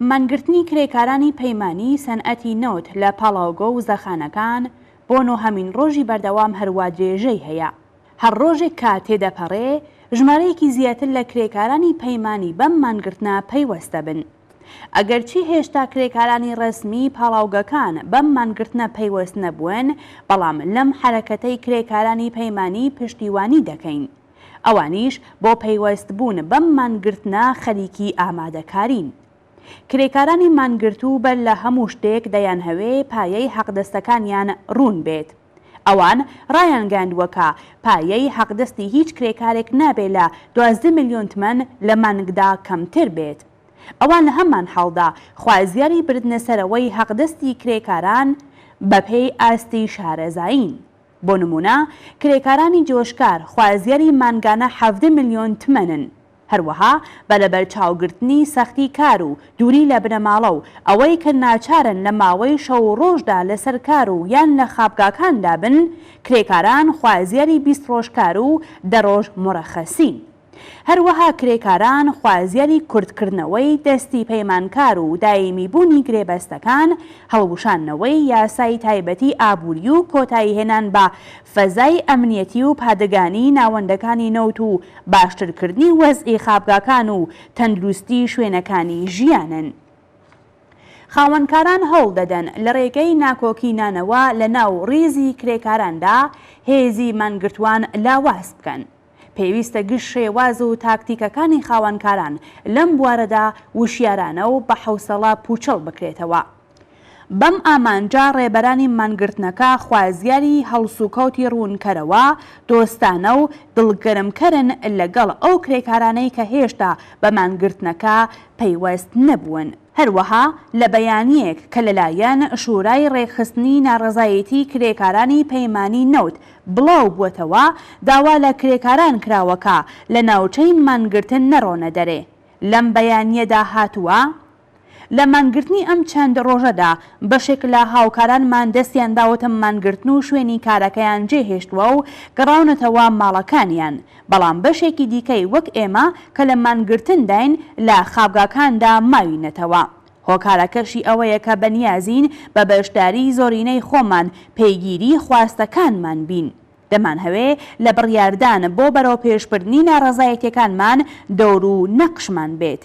مانگرتنی کرێکارانی پەیمانی سەنعەتی نەوت لە پاڵاوگە و زەخانەکان بۆ نۆهەمین ڕۆژی بەردەوام هەروا درێژەی هەیە. هەر ڕۆژێک کە تێدەپەڕێ، ژمارەیەکی زیاتر لە کرێکارانی پەیمانی بەم مانگرتنە پەیوەست دەبن. ئەگەرچی هێشتا کرێکارانی ڕەسمی پاڵاوگەکان بەم مانگرتنە پەیوەست نەبوون، بەڵام لەم حەرەکەتەی کرێکارانی پەیمانی پشتیوانی دەکەین. ئەوانیش بۆ پەیوەستبوون بەم مانگرتنە خەریکی ئامادەکارین. کرێکارانی مانگرتوو بەر لە هەموو شتێک دەیانهەوێ پایەی حەقدەستەکانیان روون بێت. ئەوان رایانگەیاندووە کە پایەی حەقدەستی هیچ کرێکارێک نابێ لە دوازدە ملیۆن تمەن لە مانگدا کەمتر بێت. ئەوان لە هەمان حاڵدا خوازیاری بردنەسەرەوەی حەقدەستی کرێکاران بەپێی ئاستی شارەزایین. بۆ نموونە کرێکارانی جۆشکار خوازیاری مانگانە حەڤدە ملیۆن تمەنن، هەروەها بە لەبەرچاوگرتنی سەختی کار و دووری لە بنەماڵە و ئەوەی کە ناچارن لە ماوەی شەو و ڕۆژدا لەسەر کار و یان لە خابگاکاندا بن، کرێکاران خوازیاری بیست ڕۆژ کار و دە ڕۆژ مورەخەسین. هەروەها کرێکاران خوازیاری کورتکردنەوەی دەستی پەیمانکار و دایمیبوونی گرێبەستەکان، هەڵوشاندنەوەی یاسای تایبەتی ئابووری و کۆتاییهێنان بە فەزای ئەمنیەتی و پادگانی ناوەندەکانی نەوت و باشترکردنی وەزعی خابگاکان و تەندروستی شوێنەکانی ژیانن. خاوەنکاران هەوڵ دەدەن لە رێگەی ناکۆکی نانەوە لە ناو ریزی کرێکاراندا هێزی مانگرتووان لاواز بکەن. پێویستە گشت شێواز و تاکتیکەکانی خاوەنکاران لەم بوارەدا وشیارانە و بە حەوسەڵە پووچەڵ بکرێتەوە. بەم ئامانجە ڕێبەرانی مانگرتنەکە خوازیاری هەڵسوکەوتی ڕوونکەرەوە، دۆستانە و دڵگەرمکەرن لەگەڵ ئەو کرێکارانەی کە هێشتا بە مانگرتنەکە پەیوەست نەبوون. هەروەها لە بەیانییەک کە لەلایەن شورای ڕێکخستنی ناڕەزایەتیی کرێکارانی پەیمانی نەوت بڵاوبوەتەوە داوا لە کرێکاران کراوە کە لە ناوچەی مانگرتن نەڕۆنە دەرێ. لەم بەیانیەدا هاتووە، لە مانگرتنی ئەم چەند ڕۆژەدا بەشێک لە هاوکارانمان دەستیان داوەتە مانگرتن و شوێنی کارەکەیان جێهێشتوە و گەڕاونەتەوە ماڵەکانیان، بەڵام بەشێکی دیکەی وەک ئێمە کە لە مانگرتنداین لە خابگاکاندا ماوینەتەوە. هۆکارەکەشی ئەوەیە کە بەنیازین بە بەشداریی زۆرینەی خۆمان پێگیری خواستەکانمان بین. دەمانهەوێ لە بڕیاردان بۆ بەرەوپێشبردنی ناڕەزایەتییەکانمان دەور و نەقشمان بێت.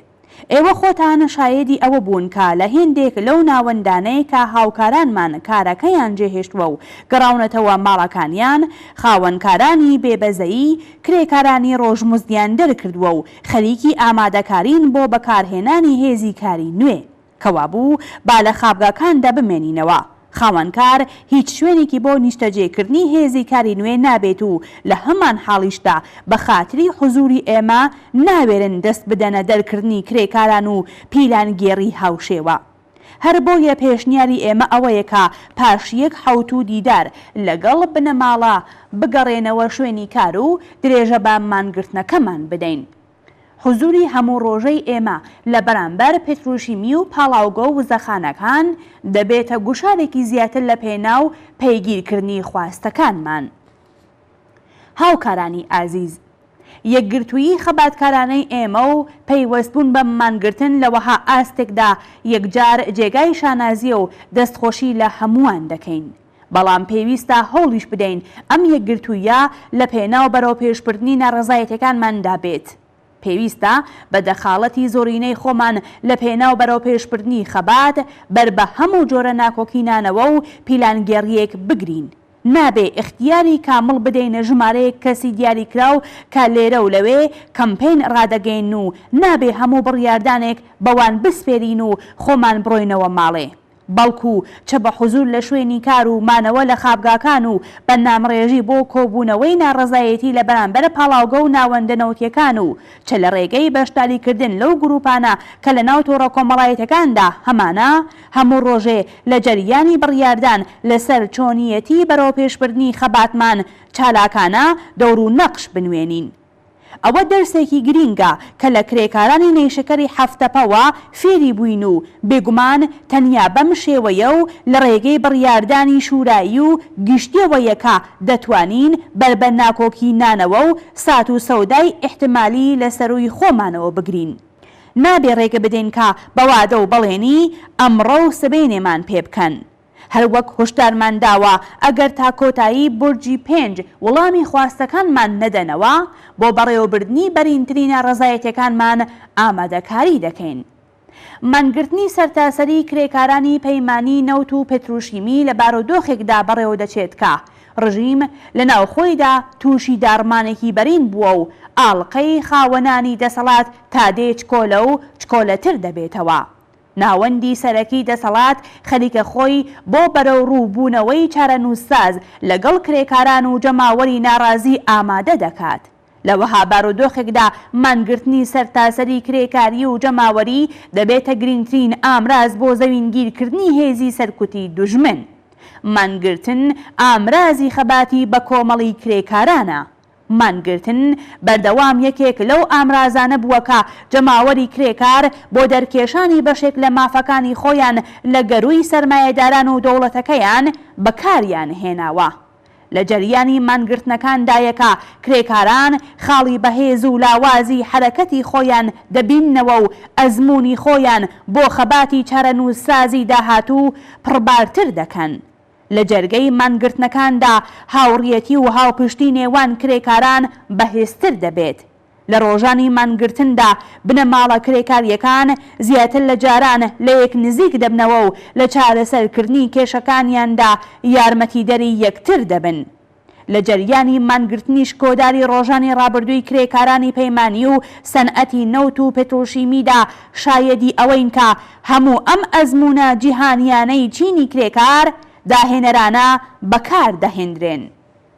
ئێوە خۆتان شایەدی ئەوە بوون کە لە هێندێک لەو ناوەندانەی کە هاوکارانمان کارەکەیان جێهێشتوە و گەڕاونەتەوە ماڵەکانیان، خاوەنکارانی بێبەزەیی کرێکارانی ڕۆژمزدیان دەرکردوە و خەریکی ئامادەکارین بۆ بەکارهێنانی هێزی کاری نوێ، کەوابوو با لە خابگاکاندا بمێنینەوە، خاوەنکار هیچ شوێنێکی بۆ نیشتەجێکردنی هێزی کاری نوێ نابێت و لە هەمان حاڵیشدا بە خاتری حزووری ئێمە ناوێرن دەست بدەنە دەرکردنی کرێکاران و پیلانگێڕی هاوشێوە. هەر بۆیە پێشنیاری ئێمە ئەوەیە کە پاش یەک حەوتوو دیدار لەگەڵ بنەماڵە بگەڕێنەوە شوێنی کار و درێژە بە مانگرتنەکەمان بدەین. حزووری هەموو ڕۆژەی ئێمە لە بەرامبەر پتروشیمی و پاڵاوگە و وزەخانەکان دەبێتە گوشارێکی زیاتر لە پێناو پەیگیرکردنی خواستەکانمان. هاوکارانی ئازیز، یەکگرتوویی خەباتکارانەی ئێمە و پەیوەستبوون بە مانگرتن لە وەها ئاستێکدا یەکجار جێگای شانازییە و دەستخۆشی لە هەمووان دەکەین، بەڵام پێویستە هەوڵیش بدەین ئەم یەکگرتووییە لە پێناو بەرەوپێشبردنی ناڕەزایەتیەکانماندا بێت. پێویستە بە دەخاڵەتی زۆرینەی خۆمان لە پێناو بەرەوپێشبردنی خەبات، بەر بە هەموو جۆرە ناکۆکینانەوە و پیلانگێڕییەک بگرین. نابێ ئیختیاری کامڵ بدەینە ژمارەیەک کەسی دیاریکراو کە لێرە و لەوێ کەمپەین ڕادەگەیەنن و نابێ هەموو بڕیاردانێک بەوان بسپێرین و خۆمان بڕۆینەوە ماڵێ بەڵکوو چ بە حزوور لە شوێنی کار و مانەوە لە خابگاکان و بە نامڕێژی بۆ کۆبوونەوەی ناڕەزایەتی لە بەرامبەر پاڵاوگە و ناوەندە نەوتییەکان و چ لە ڕێگەی بەشداریکردن لەو گرووپانە کە لە ناو تۆڕە کۆمەڵایەتییەکاندا هەمانە هەموو ڕۆژێ لە جەریانی بڕیاردان لەسەر چۆنییەتی بەرەوپێشبردنی خەباتمان چالاکانە دەورو نەقش بنوێنین. ئەوە دەرسێکی گرینگە کە لە کرێکارانی نەیشەکەری هەفت تەپەوە فێری بووین و بێگومان تەنیا بەم شێوەیە و لە ڕێگەی بڕیاردانی شورایی و گشتیەوە یەکە دەتوانین بەر بە ناکۆکی نانەوە و سات و سەودای ئیحتمالی لە سەرووی خۆمانەوە بگرین. نابێ ڕێگە بدەین کە بە وادە و بەڵێنی ئەمڕۆ و سبەینێمان پێ بکەن. هەر وەک هۆشدارمان داوە ئەگەر تا کۆتایی بورجی پێنج وڵامی خواستەکانمان نەدەنەوە، بۆ بەڕێوەبردنی بەرینترین ناڕەزایەتیەکانمان ئامادەکاری دەکەین. مانگرتنی سەرتاسەری کرێکارانی پەیمانی نەوت و پتروشیمی لە بارودۆخێکدا بەڕێوەدەچێت کە ڕژیم لە ناوخۆیدا تووشی داڕمانێکی بەرین بووە و ئاڵقەی خاوەنانی دەسەڵات تا دێ چکۆلە و چکۆلەتر دەبێتەوە. ناوەندی سەرەکی دەسەڵات خەریکە خۆی بۆ بەرەوڕوو بوونەوەی چارەنووسساز لەگەڵ کرێکاران و جەماوەری ناڕازی ئامادە دەکات. لە وەها بارودۆخێکدا مانگرتنی سەرتاسەری کرێکاری و جەماوەری دەبێتە گرینگترین ئامراز بۆ زەوینگیرکردنی هێزی سەرکوتی دوژمن. مانگرتن ئامرازی خەباتی بەکۆمەڵی کرێکارانە. مانگرتن بەردەوام یەکێک لەو ئامرازانە بووە کە جەماوەری کرێکار بۆ دەرکێشانی بەشێک لە مافەکانی خۆیان لە گەرووی سەرمایەداران و دەوڵەتەکەیان بەکاریان هێناوە. لە جەریانی مانگرتنەکاندایە کە کرێکاران خاڵی بەهێز و لاوازی حەرەکەتی خۆیان دەبیننەوە و ئەزموونی خۆیان بۆ خەباتی چارەنووسسازی داهاتوو پڕبارتر دەکەن. لە جەرگەی مانگرتنەکاندا هاوڕیەتی و هاوپشتی نێوان کرێکاران بەهێزتر دەبێت. لە ڕۆژانی مانگرتندا بنەماڵە کرێکارییەکان زیاتر لە جاران لە یەک نزیک دەبنەوە و لە چارەسەرکردنی کێشەکانیاندا یارمەتیدەری یەکتر دەبن. لە جەریانی مانگرتنیش کۆداری ڕۆژانی ڕابردووی کرێکارانی پەیمانی و سەنعەتی نەوت و پتروشیمیدا شایەدی ئەوەین کە هەموو ئەم ئەزموونە جیهانییانەی چینی کرێکار داهێنەرانە بەکار دەهێندرێن.